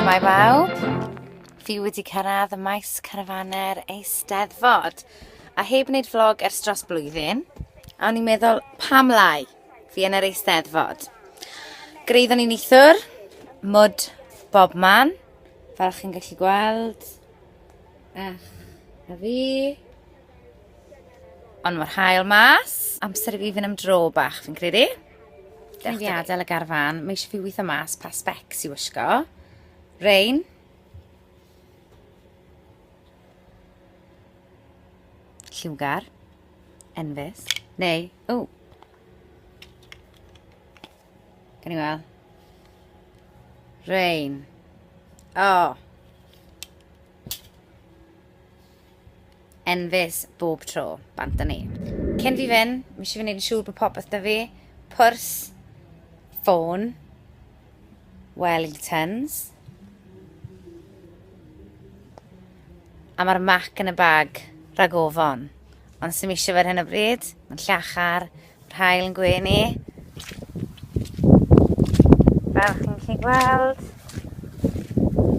Shwmae bawb, fi wedi cyrraedd y maes carafaner eisteddfod a heb wneud vlog ers dros blwyddyn a o'n i'n meddwl pam lai fi yn yr eisteddfod. Greiddon ni'n eithwr, mwd bob man, fel chi'n gallu gweld. Ech, a fi. Ond mae'r hael mas. Amser i fi fynd am dro bach, fi'n credu. Dwi'n fi adael y garfan. Mae eisiau fi weithio mas pa specs i wisgo. Rain. Lliwgar. Enfys. Neu, o. Gan i weld. Rain. Oh. enfys bob tro, bant â ni. Cyn fi fyn, mi eisiau fi wneud yn siŵr bod popeth da fi. Pwrs, ffôn, Wellingtons. A mae'r mac yn y bag rhag ofon. Ond sy'n eisiau fe ar hyn o bryd, mae'n llachar, Yr hael yn gwenu. Fel chi'n chi gweld,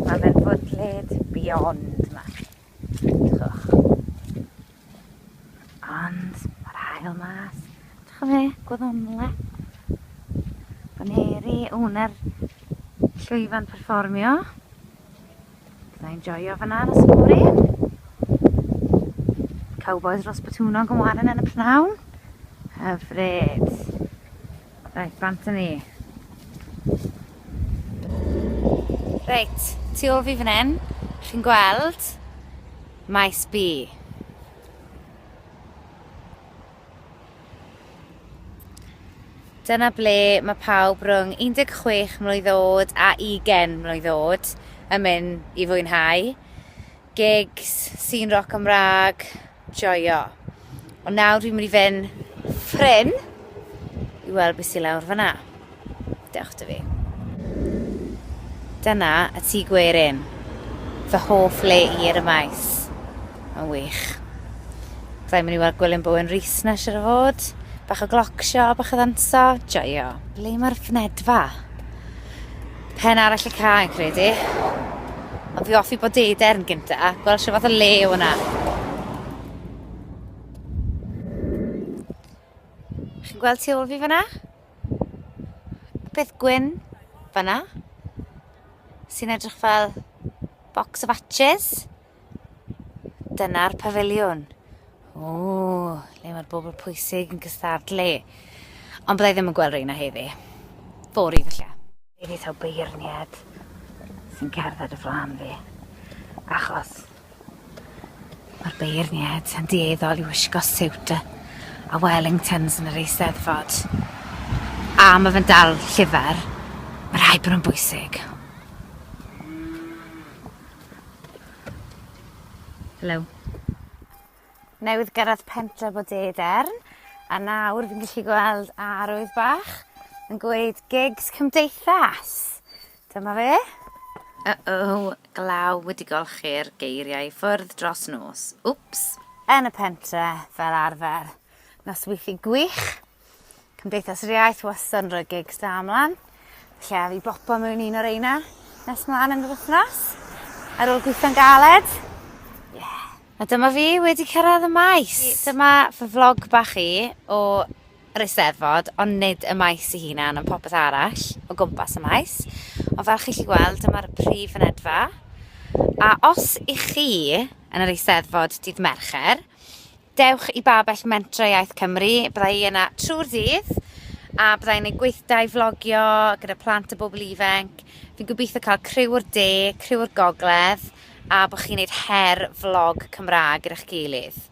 mae fe'n fwdlyd beyond yma. Ond mae'r hael mas. Dwi'n fe, gwyddonle. Baneri, wnau'r llwyfan perfformio. Byddai'n enjoyo fyna yn y sbwri. Cowboys dros Botwnog yn warin yn y pnawn. Hyfryd. Reit, bant yn ni. Reit, tu ôl fi fan hyn, chi'n gweld maes B. Dyna ble mae pawb rhwng 16 mlwydd oed a 20 mlwydd oed yn mynd i fwynhau. Gigs, sîn roc Cymraeg, joio. Ond nawr dwi'n mynd i fynd ffrin i weld beth sy'n lawr fyna. Dewch 'da fi. Dyna y tŷ gwerin. Fy hoff le i ar y maes. Mae'n wych. Da ni'n mynd i weld Gwilym Bowen Rees na siwr o fod. Bach o gloc sio, bach o ddanso. Joio. Ble mae'r fynedfa? Pen arall y ca yn credu. Ond fi offi bod deder yn gynta. Gweld sio fath o le o hwnna. Chi'n gweld tu ôl fi fyna? peth gwyn fanna sy'n edrych fel box of atches. Dyna'r pafiliwn. O, le mae'r bobl pwysig yn cystadlu. Ond byddai ddim yn gweld rheina heddi. Fori felly. Fi wedi taw beirniad sy'n cerdded y flan fi. Achos Mae'r beirniaid yn dueddol i wisgo siwt a Wellingtons yn yr Eisteddfod. A mae fe'n dal llyfr, mae rhaid bod nhw'n bwysig. Hello. Newydd gyrraedd pentre bod Edern, a nawr fi'n gallu gweld arwydd bach yn gweud gigs cymdeithas. Dyma fe! Uh-oh, glaw wedi golchi'r geiriau i ffwrdd dros nos. Wps! Yn y pentre, fel arfer. Nosweithi gwych. Cymdeithas yr Iaith wastad yn rhoi gigs da ymlaen. Lle a fi bopo mewn un o reina nes mlaen yn yr wythnos. Ar ôl gweithio'n galed. Yeah. A dyma fi wedi cyrraedd y maes. Dyma fy vlog bach i o yr Eisteddfod, ond nid y maes ei hunan, ond popeth arall o gwmpas y maes. Ond fel chi'n lli gweld, dyma'r prif fynedfa. A os i chi yn yr Eisteddfod dydd Mercher, dewch i Babell Mentra Iaith Cymru, bydda i yna trwy'r dydd, a bydda i'n ei gweithdai flogio gyda plant a bobl ifenc. Fi'n gobeithio cael criw o'r de, criw o'r gogledd, a bod chi'n neud her vlog Cymraeg gyda'ch gilydd.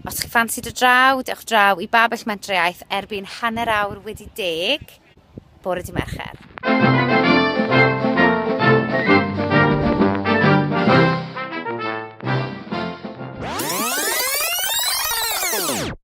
Os chi'n ffansi do draw, dewch draw i Babell Mentrau erbyn hanner awr wedi deg, bore di Mercher. Música